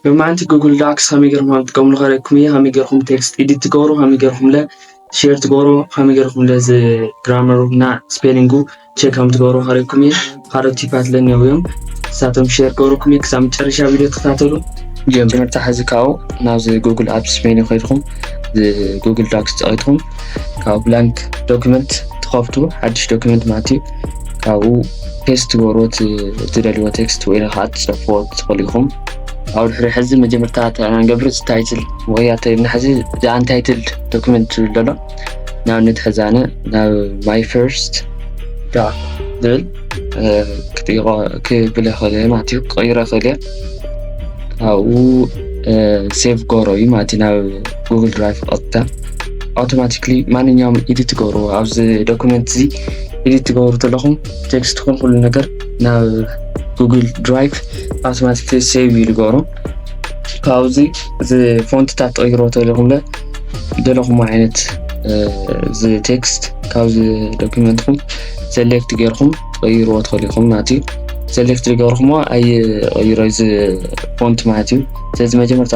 ሎማዓንቲ ጉግል ዳክስ ከመይ ጌርኩም ከም ትጥቀምሉ ከርእየኩም እየ ከመይ ጌርኩም ቴክስት ኤዲት ትገብሩ ከመይ ጌርኩም ለ ሼር ትገብሩ ከመይ ጌርኩም ለ እዚ ግራመሩ እና ስፔሊንጉ ቼክ ከም ትገብሩ ከርእየኩም እየ ካልኦት ቲፓት ለ እኒአው እዮም ንሳቶም ሼር ገብረኩም እየ ክሳብ መጨረሻ ቪድዮ ተከታተሉ ቪድዮ ትምህርቲ ሓዚ ካብኡ ናብዚ ጉግል ኣፕስ ሜኒ ኮይድኩም ጉግል ዳክስ ፀቂጥኩም ካብ ብላንክ ዶክመንት ትኸፍቱ ሓድሽ ዶክመንት ማለት እዩ ካብኡ ፔስት ትገብርዎ እትደልይዎ ቴክስት ወይ ከዓ ትፅሕፍዎ ትኽእሉ ኢኹም ኣብ ድሕሪ ሕዚ መጀመርታ ንገብር ታይትል ወይ ኣተልና ሕዚ ኣንታይትልድ ዶክመንት ዝብል ዘሎ ንኣብነት ሕዚ ኣነ ናብ ማይ ፈርስት ዳ ዝብል ክጥይቆ ክብል ይኽእል እየ ማለት እዩ ክቕይሮ ይኽእል እየ ካብኡ ሴቭ ገሮ እዩ ማለት እዩ ናብ ጉግል ድራይቭ ቀጥታ ኣውቶማቲክሊ ማንኛውም ኢዲት ትገብርዎ ኣብዚ ዶኩመንት እዚ ኢዲት ትገብሩ ዘለኹም ቴክስት ኹን ኩሉ ነገር ናብ ጉግል ድራይቭ ኣውቶማቲክሊ ሴቭ እዩ ዝገብሮ ካብዚ እዚ ፎንትታት ትቕይሮ ተለኹምለ ዘለኹም ዓይነት እዚ ቴክስት ካብዚ ዶኩመንትኹም ሰሌክት ጌርኩም ትቐይርዎ ትኽእሉ ኢኹም ማለት እዩ ሰሌክት ዝገበርኩሞ ኣይቐይሮ እዚ ፎንት ማለት እዩ ስለዚ መጀመርታ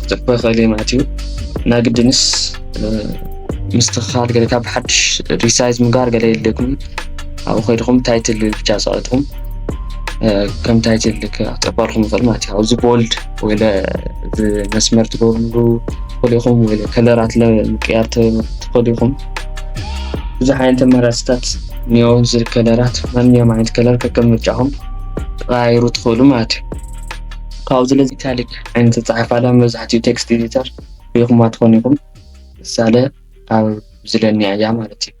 ክትዕበ ክእል ማለት እዩ እና ግድንስ ምስትክካል ገለ ካብ ሓድሽ ሪሳይዝ ምግባር ገለ የድልየኩም ኣብኡ ከይድኹም ታይትል ብቻ ፀቂጥኩም ከም ታይትል ክጠባልኩም ይኽእል ማለት እዩ ኣብዚ ቦልድ ወይ መስመር ትገብርሉ ትኽእሉ ኢኹም ወይ ከለራት ምቅያር ትኽእሉ ኢኹም ብዙሕ ዓይነት ኣማራፅታት እኒኦ እዚ ከለራት ማንኛውም ዓይነት ከለር ከከም ምርጫኹም ተቀያይሩ ትኽእሉ ማለት እዩ ካብዚ ለዚ ካሊእ ዓይነት ኣጸሓሕፋ መብዛሕትኡ ቴክስት ኤዲተር ርኢኹማ ትኾኑ ኢኹም። ምሳለ ኣብ ዝለኒያ እያ ማለት እዩ።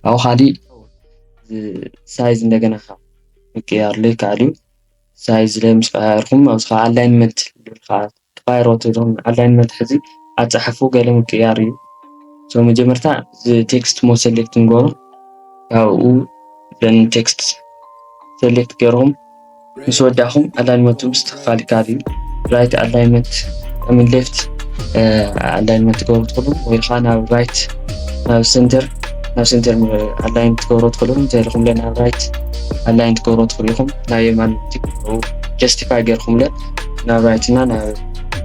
ካብኡ ካሊእ ሳይዝ እንደገና ካብ ምቅያር ዘይከኣል እዩ። ሳይዝ ላይ ምስ ቀያየርኩም ኣብዚ ከዓ ኣላይንመንት ዝብል ከዓ ተቀያይሮ ትብሎም ኣላይንመንት ሕዚ ኣጸሓሕፉ ገለ ምቅያር እዩ። ሶ መጀመርታ ቴክስት ሞ ሰሌክት ንገብሮ ካብኡ ን ቴክስት ሰሌክት ገይርኩም ምስ ወዳእኹም ኣላይንመንቱ ምስትኽኻል ይከኣል እዩ። ራይት ኣላይንመንት ኣሚን ሌፍት ኣላይንመንት ትገብሩ ትኽእሉ ወይ ከዓ ናብ ራይት ናብ ሴንተር ናብ ሴንተር ኣላይን ትገብሩ ትኽእሉ እንተኢልኩም ለ ናብ ራይት ኣላይን ትገብሩ ትኽእሉ ኢኹም ናብ የማን ጀስቲፋይ ገይርኩምለ ናብ ራይት እና ናብ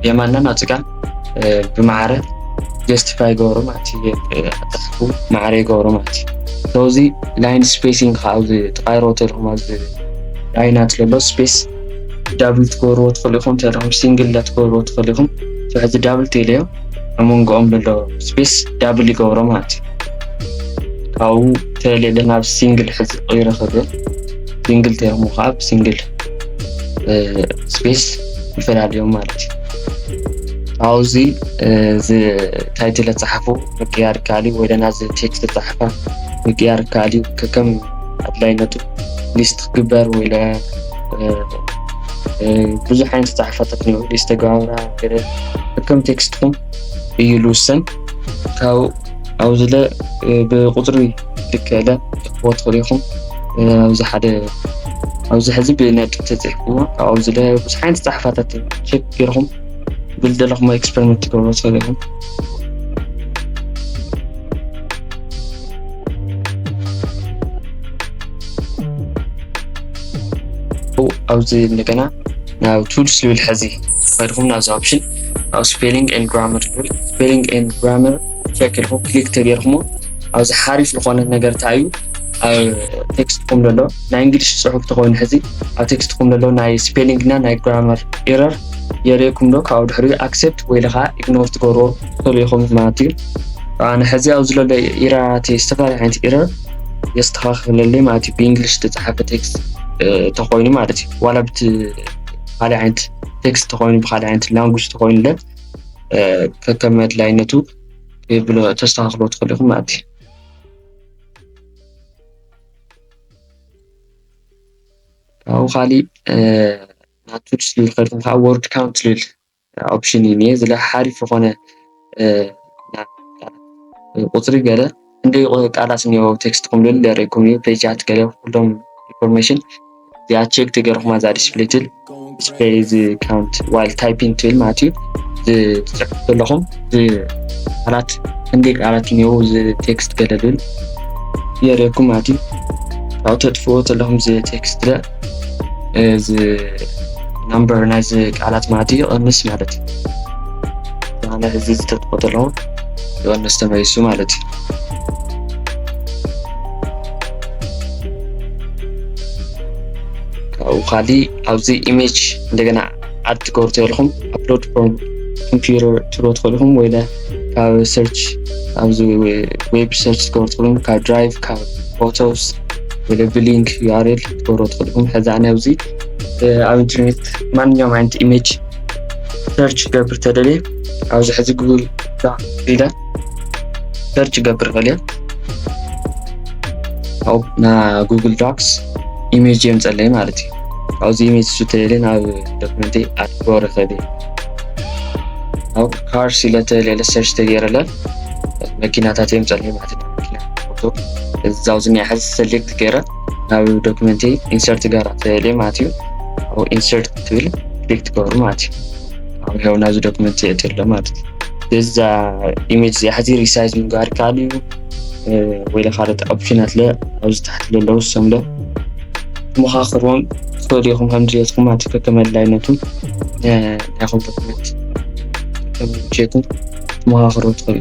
የማንናን ኣብ ፅጋም ብማዕረ ጀስቲፋይ ይገብሮ ማለት እዩ ኣጻሓፉ ማዕረ ይገብሮ ማለት እዩ ሰውዚ ላይን ስፔሲንግ ከዓ ኣብዚ ተቃይሮ ተልኩም ኣብዚ ላይና ትለሎ ስፔስ ዳብል ትገብርዎ ትኽእሉ ኢኹም ተለኹም ሲንግል ዳ ትገብርዎ ትኽእሉ ኢኹም ሕዚ ዳብል ቴለዮ ኣብ መንጎኦም ዘሎ ስፔስ ዳብል ይገብሮ ማለት እዩ ካብኡ ተሌለ ናብ ሲንግል ሕዚ ቀይረ ክብል ሲንግል ተይኹም ከዓ ብሲንግል ስፔስ ይፈላለዮም ማለት እዩ ኣብዚ እዚ ታይትል ዝፀሓፉ ምቅያር ይከኣል እዩ ወይ ደና እዚ ቴክስት ዝፀሓፋ ምቅያር ይከኣል እዩ ከከም ኣድላይነቱ ሊስት ክግበር ወይ ለ ብዙሕ ዓይነት ዝፀሓፋታት እኒኦ ሊስት ተገባብራ ገለ ከከም ቴክስትኩም እዩ ዝውሰን ካብ ኣብዚ ለ ብቁፅሪ ልክዕለ ትክዎ ትኽሉ ኢኹም ኣብዚ ሓደ ኣብዚ ሕዚ ብነጥ ተፅሕፍዎ ካብኡ ዝለ ብዙሕ ዓይነት ፀሓፋታት ቸክ ገይርኹም ብልደለኹም ኤክስፐሪመንት ትገብሮ ትኽእሉ ኢኹም ኣብዚ እንደገና ናብ ቱልስ ዝብል ሕዚ ከድኹም ናብዚ ኦፕሽን ኣብ ስፔሊንግ ን ግራመር ዝብል ስፔሊንግ ን ግራመር ቸክ ኢልኩም ክሊክ ተገይርኩሞ ኣብዚ ሓሪፍ ዝኾነ ነገር እንታይ እዩ ኣብ ቴክስትኩም ዘሎ ናይ እንግሊሽ ፅሑፍ ተኮይኑ ሕዚ ኣብ ቴክስትኩም ዘሎ ናይ ስፔሊንግ እና ናይ ግራመር ኤረር የርእየኩም ዶ ካብኡ ድሕሪ ኣክሴፕት ወይ ለካ ኢግኖር ትገብሮ ትኽእሉ ኢኹም ማለት እዩ ኣነ ሕዚ ኣብዚ ዘሎ ኢራራት ዝተፈላለዩ ዓይነት ኤረር የስተኻኽለለይ ማለት እዩ ብእንግሊሽ ዝተፅሓፈ ቴክስት ተኮይኑ ማለት እዩ ዋላ ብቲ ካልእ ዓይነት ቴክስት ተኮይኑ ብካልእ ዓይነት ላንጉጅ ተኮይኑለ ከከም ኣድላይነቱ ብሎ ተስተካክሎ ትኽእሉ ኢኹም ማለት እዩ ካብኡ ካሊእ ናብ ቱልስ ዝብል ከድኩም ከዓ ወርድ ካውንት ዝብል ኦፕሽን እዩ እኒሀ እዚ ሓሪፍ ዝኾነ ቁፅሪ ገለ ክንደይ ቃላት እኒኦ ቴክስትኩም ልል የርእኩም እዩ ፔጃት ገለ ኩሎም ኢንፎርሜሽን እዚኣ ቼክ ተገርኹማ እዛ ዲስፕሌይ ትብል ዲስፕሌይ እዚ ካውንት ዋይል ታይፒን ትብል ማለት እዩ ዝፅሕፍ ዘለኹም ቃላት ክንደይ ቃላት እኒኦ እዚ ቴክስት ገለ ልል የርእኩም ማለት እዩ ካብኡ ተጥፍዎ ዘለኹም እዚ ቴክስት እዚ ናምበር ናይዚ ቃላት ማለት እዩ ቐንስ ማለት እዩ ብሃነ እዚ ዝተጥቆ ዘለዉ ይቐንስ ተመይሱ ማለት እዩ ካብኡ ካሊ ኣብዚ ኢሜጅ እንደገና ዓድ ትገብሩ ተልኹም ኣፕሎድ ፍሮም ኮምፒውተር ትብሎ ትኽእሉ ኢኹም ወይለ ካብ ሰርች ኣብዚ ዌብ ሰርች ትገብሩ ትኽእሉ ካብ ድራይቭ ካብ ፎቶስ ወይለ ብሊንክ ዩኣርኤል ትገብሩ ትኽእሉ ኢኹም ሕዚ ኣነ ኣብዚ ኣብ ኢንተርኔት ማንኛውም ዓይነት ኢሜጅ ሰርች ገብር ተደልየ ኣብዚ ሕዚ ጉግል ኢለ ሰርች ገብር ኽእል እየ ካብኡ ና ጉግል ዶክስ ኢሜጅ የምፀለይ ማለት እዩ ኣብዚ ኢሜጅ ቱቶሪያልን ኣብ ዶክመንት ኣድጎ ርኸብ ኣብ ካር ሲለተ ሌለ ሰርች ተገይረለ መኪናታት እዮም ፀለዩ ማለት ነው መኪና ፎቶ እዛው ዝኒያ ሕዚ ሰሌክት ገይረ ናብ ዶክመንት ኢንሰርት ጋር ተለ ማለት እዩ ኣብ ኢንሰርት ትብል ክሊክ ትገብሩ ማለት እዩ ኣብ ያው ናብዚ ዶክመንት የእትሎ ማለት እዩ እዛ ኢሜጅ እዚኣ ሕዚ ሪሳይዝ ምግባር ይከኣል እዩ ወይ ካልኦት ኦፕሽናት ለ ኣብዚ ታሕቲ ለለዉ ሰምለ ክመኻኽርዎም ትኽእሉ ኢኹም ከም ድሌትኩም ማለት እዩ ከከም ኣድላይነቱ ናይኹም ዶክመንት ከከም ምቸኩም ክመኻኽሩ ትኽእሉ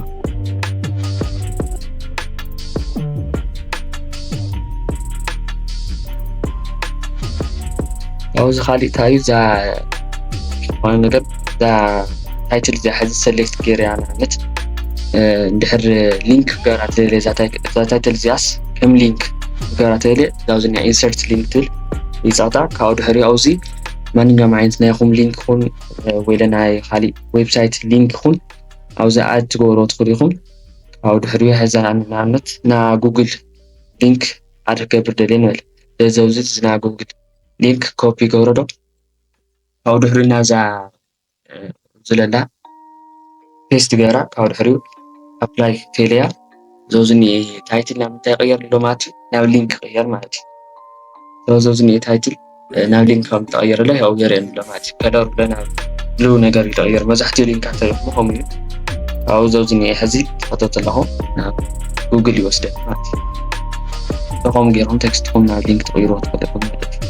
ኣብዚ ካሊእ እንታይ እዩ እዛ ዝኾነ ነገር እዛ ታይትል እዚኣ ሕዚ ሰሌክት ገይረ እያ ንኣብነት እንድሕር ሊንክ ክገብራ ተደልየ እዛ ታይትል እዚኣስ ከም ሊንክ ክገብራ ተደልየ ናብዚ ናይ ኢንሰርት ሊንክ ትብል ይፃጣ ካብኡ ድሕሪ ኣውዚ ማንኛውም ዓይነት ናይኹም ሊንክ ይኹን ወይ ለናይ ካሊእ ዌብሳይት ሊንክ ይኹን ኣብዚ ኣድ ትገብሮ ትኽእሉ ኢኹም ካብኡ ድሕሪ ሕዛ ንኣብነት ና ጉግል ሊንክ ኣድ ክገብር ደልየ ንበል ስለዚ ኣብዚ ዝና ጉግል ሊንክ ኮፒ ገብረዶ ካብኡ ድሕሪ ናዛ ዝለላ ፔስት ገይራ ካብኡ ድሕሪኡ ኣፕላይ ቴለያ ዞዚ እኒአ ታይትል ናብ እንታይ ይቕየር ኣሎ ማለት እዩ ናብ ሊንክ ይቕየር ማለት እዩ ዞዚ እኒአ ታይትል ናብ ሊንክ ከም ተቐየረለ ያው የርእየን ኣሎ ማለት እዩ ከለሩ ለ ናብ ብሉ ነገር እዩ ተቐየሩ መብዛሕትኡ ሊንካት ተሪኽሞ ከምኡ እዩ ካብኡ ዞዚ እኒአ ሕዚ ትኸተት ኣለኹ ናብ ጉግል ይወስደን ማለት እዩ ከምኡ ገይሮም ቴክስትኩም ናብ ሊንክ ትቕይርዎ ትኽእሉ ኢኹም ማለት እዩ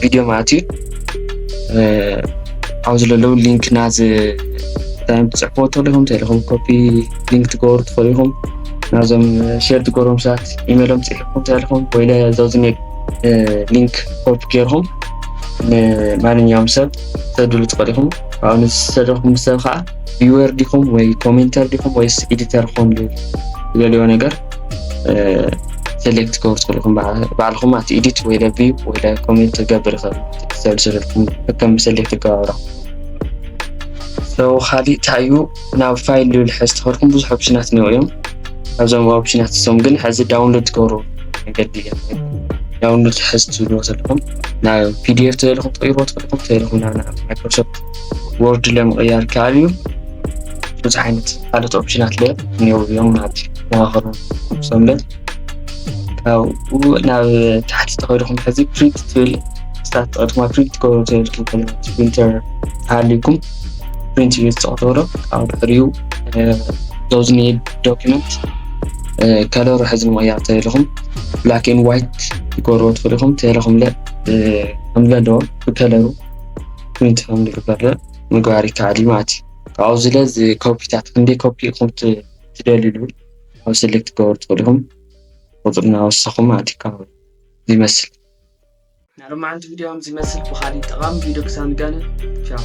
ቪድዮ ማለት እዩ ኣብ ዘለዉ ሊንክ ናዚ ታይም ትፅሕፎ ተለኹም ተለኹም ኮፒ ሊንክ ትገብሩ ትኽእሉ ኢኹም ናዞም ሸር ትገብሮም ሰባት ኢሜሎም ፅሒፍኩም ተለኹም ወይ ዘዚ ሊንክ ኮፒ ገይርኹም ንማንኛውም ሰብ ተድሉ ትኽእሉ ኢኹም ኣብኡ ንዝተደኹም ሰብ ከዓ ቪወር ዲኹም ወይ ኮሜንተር ዲኹም ወይስ ኤዲተር ኹም ዝደልዮ ነገር ሰሌክት ክገብሩ ትኽእሉ ኢኹም ባዕልኹም ኣቲ ኢዲት ወይ ለብዩ ወይ ኮሜንት ክገብር ይኽእል ትሰሉ ስለልኩም ከም ሰሌክት ይገባብራ ሰው ካሊእ እንታይ እዩ ናብ ፋይል ዝብል ሕዚ ተኸድኩም ብዙሕ ኦፕሽናት እኒኦ እዮም ካብዞም ኦፕሽናት እሶም ግን ሕዚ ዳውንሎድ ትገብሩ መንገዲ እዮም ዳውንሎድ ሕዚ ትብልዎ ዘለኹም ናብ ፒዲኤፍ ተደልኹም ትቕይርዎ ትኽእልኩም ተደልኹም ናብ ማይክሮሶፍት ወርድ ለምቕያር ከኣል እዩ ብዙሕ ዓይነት ካልኦት ኦፕሽናት ለ እኒአው እዮም ማለት እዩ መዋኸሩ ንሶም ለ ካብኡ ናብ ታሕቲ ተኸይድኩም ሕዚ ፕሪንት ትብል ስታት ተቐድኩማ ፕሪንት ትገብሩ ዘይብልኩም ከለ ፕሪንተር ተሃልዩኩም ፕሪንት እዩ ዝፀቕተብሎ ካብ ድሕሪኡ ዞዝ ኒድ ዶኪመንት ከለሩ ሕዚ ምቕያር ተልኹም ብላክ ን ዋይት ትገብርዎ ትኽእሉ ኢኹም ተለኹም ለ ከምለ ኣለዎ ብከለሩ ፕሪንት ከም ዝግበር ምግባር ይከኣል ማለት እዩ ካብኡ ዝለ እዚ ኮፒታት ክንደይ ኮፒ ኢኹም ትደልሉ ኣብ ሰሌክት ክገብሩ ትኽእሉ ኢኹም ቁፅሪ እናወሰኹም ኣቲካ ይመስል ናይ ሎማዓንቲ ቪድዮ ከምዚ ይመስል ብኻሊእ ጠቓሚ ቪድዮ ክሳብ ንጋነ ቻው